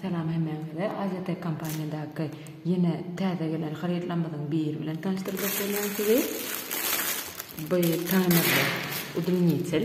Salam hemmäňize. Aziatek kompaniýadaky ýene täze gelen harytlarymyzyň biri bilen tanyşdyrjak bolýan sizi. Bu taýmerli udunnitiel.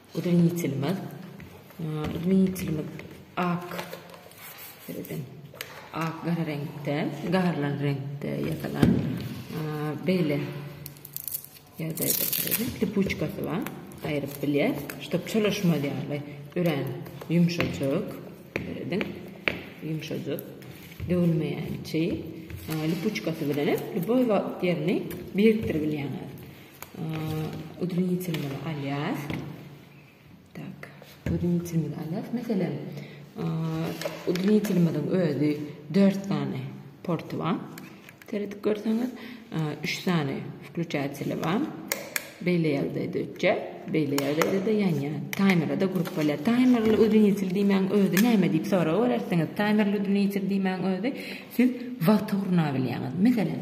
Udinitelimiz, udinitelimiz ak seredin, ak gara reňkde, garlan reňkde ýasalan beýle ýagdaýda seredin, lipuçkasy bar, aýryp bilýär, ştop çalyşmaz ýaly örän ýumşajyk, seredin, ýumşajyk, döwülmeýän çeýe, lipuçkasy bilenem lýuboý wagt ýerini birikdiribilýäňiz. Udranitilmeli alýas. Tak. Udranitilmeli alýas. Meselem, udranitilmeliň özi 4 sany porty bar. Seredip görseňiz, 3 sany wkluçatsili bar. Beýle ýerde dötje, beýle ýerde de ýanýa. Taýmere de gurup bolýar. Taýmerli udranitil diýmäň özi näme diýip sorag berersiňiz. Taýmerli udranitil diýmäň özi siz wagty gurnabilýäňiz. Meselem,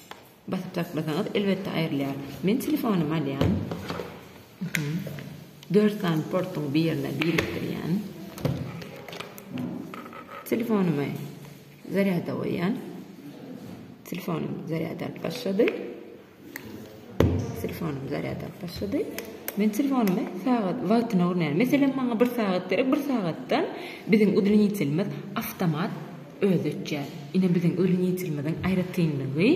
Basyp saklasaňyz elbetde aýrylýar. Men telefonymy alýan. Dört sany portuň birine birikdirýän. Telefonymy zarýada goýýan. Telefonym zarýada alyp başlady. Telefonym zarýada alyp başlady. Men telefonymy sagat wagtyna urýan. Meselem maňa bir sagat gerek, bir sagatdan biziň udilenitelimiz awtomat Özi ötýär. Ine biziň ölüm ýitirimiziň aýratynlygy,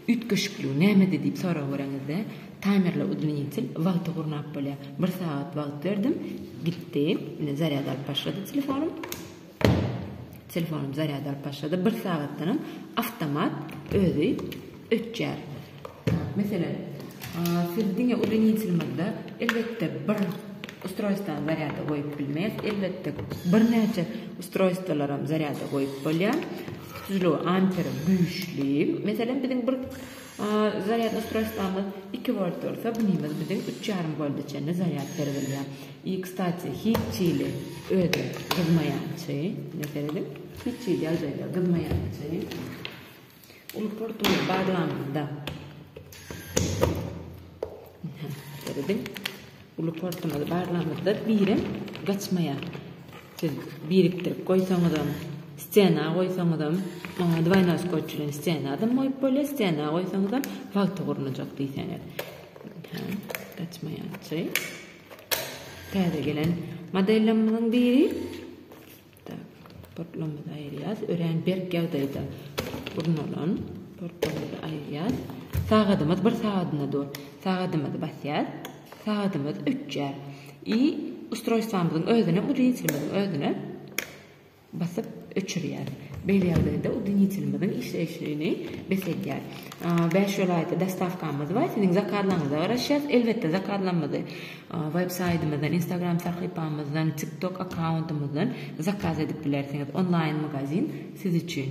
üýtgeşikligi nämede diýip sorag bereňizde, taýmerli udwinitel wagty gurnap bolýar. Bir sagat wagt berdim, gitdi. Ine zarýad alyp başlady telefonym. Telefonym zarýad alyp başlady. Bir sagatdanam awtomat özi ötýär. Meselem, siz diňe uleninçilmizde, elbetde, bir ustroýstwany zarýada goýup bilmeris, elbetde, birnäçe ustroýstwolaram zarýada goýup bolýar. Tutujylygy amperi güýçli. Meselem, biziň bir zarýad ustroýstwamyz iki volt bolsa, bunymyz biziň üç ýarym wolta çenli zarýad berip bilýär. I, kstati, hiç hili özi gyzmaýançy, ine, serediň, hiç hili ýagdaýda gyzmaýançy. Uly portumyz baglanyldy. Görediň? Uly portumyz baglanyldy. Birem gaçmaýar. Siz birikdirip goýsaňyzam, stena goýsaňyzam, oňa dwaýnoskotç bilen stena adam goýup bolýar, stena goýsaňyzam wagty gurnajak diýseňiz. Ha, gaçmaýançy. Täze gelen modellerimiziň biri. Portlamyzy aýyrýas. Örän berk ýagdaýda gurnalan portlamyzy aýyrýas. Sagadymyz bir sagadyna dur. Sagadymyzy basýas. Sagadymyz öçýär. I ustroýstwamyzyň özüne, udinitelimiziň özüne basyp öçürýär. Beýle ýagdaýda udinitelimiziň işleýşini bes edýär. Bäş welaýata dostawkamyz bar. Siziň zakazlaryňyza garaşýas. Elbetde zakazlamyzy Web saýtymyzdan, Instagram sahypamyzdan, TikTok akkauntymyzdan zakaz edip bilersiňiz. Onlaýn magazin siz üçin.